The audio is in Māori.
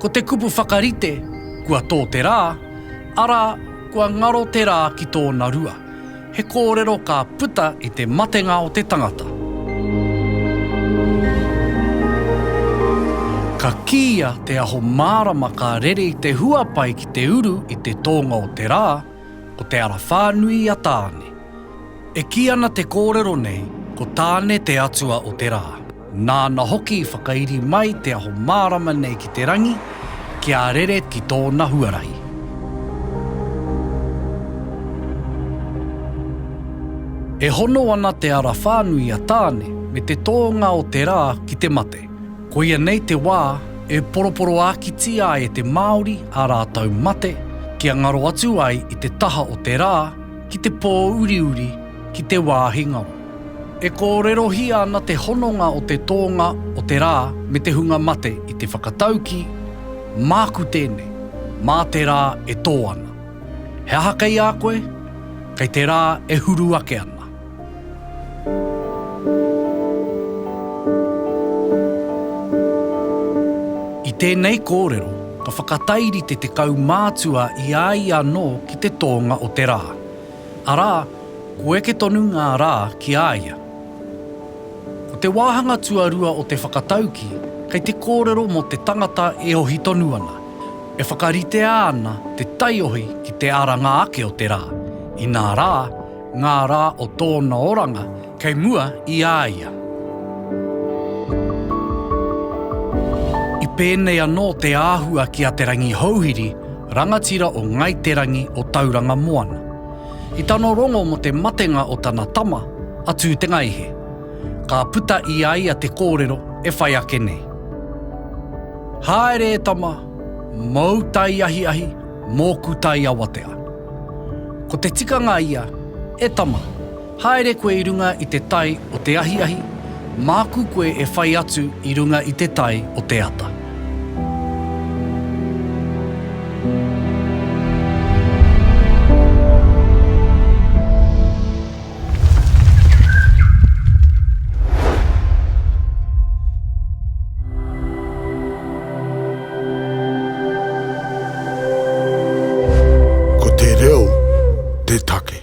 Ko te kupu whakarite, kua tō te rā, arā, kua ngaro te rā ki tōna rua. He kōrero ka puta i te matenga o te tangata. Ka kīia te aho mārama ka rere i te huapai ki te uru i te tōnga o te rā, Ko te ara whānui i a Tāne. E kī ana te kōrero nei, ko Tāne te atua o te rā. Nāna hoki i whakairi mai te aho mārama nei ki te rangi, kia rere ki tōna huarahi. E hono ana te ara whānui i a Tāne me te tōnga o te rā ki te mate. Koia nei te wā e poroporoākitia ai e te Māori ā rātou mate kia ngaro atu ai i te taha o te rā ki te pō uriuri ki te wāhi ngaro. E kōrerohia ana te hononga o te tōnga o te rā me te hunga mate i te whakataukī, Māku tēnei, mā te rā e tō ana. He aha kei a koe? Kei te rā e huru ake ana. I tēnei kōrero, ka whakatairite te kaumātua i a ia anō ki te tōnga o te rā. Arā, kua eke tonu ngā rā ki a ia. Ko te wāhanga tuarua o te whakataukī, kei te kōrero mō te tangata e ohi tonu ana, e whakaritea ana te taiohi ki te aranga ake o te rā, inā rā, Ngā rā o tōna oranga kei mua i a ia. I pēnei anō te āhua ki a Te Rangihouhiri, rangatira o Ngāi Te Rangi o Tauranga Moana. I tana rongo mō te matenga o tana tama, a Tūtengaihe, ka puta i a ia te kōrero e whai ake nei. Haere e tama, mōu tai ahiahi, Mōku tai awatea. Ko te tikanga ia, E tama, haere koe i runga i te tai o te ahiahi, māku koe e whai atu i runga i te tai o te ata. Ko te reo te take.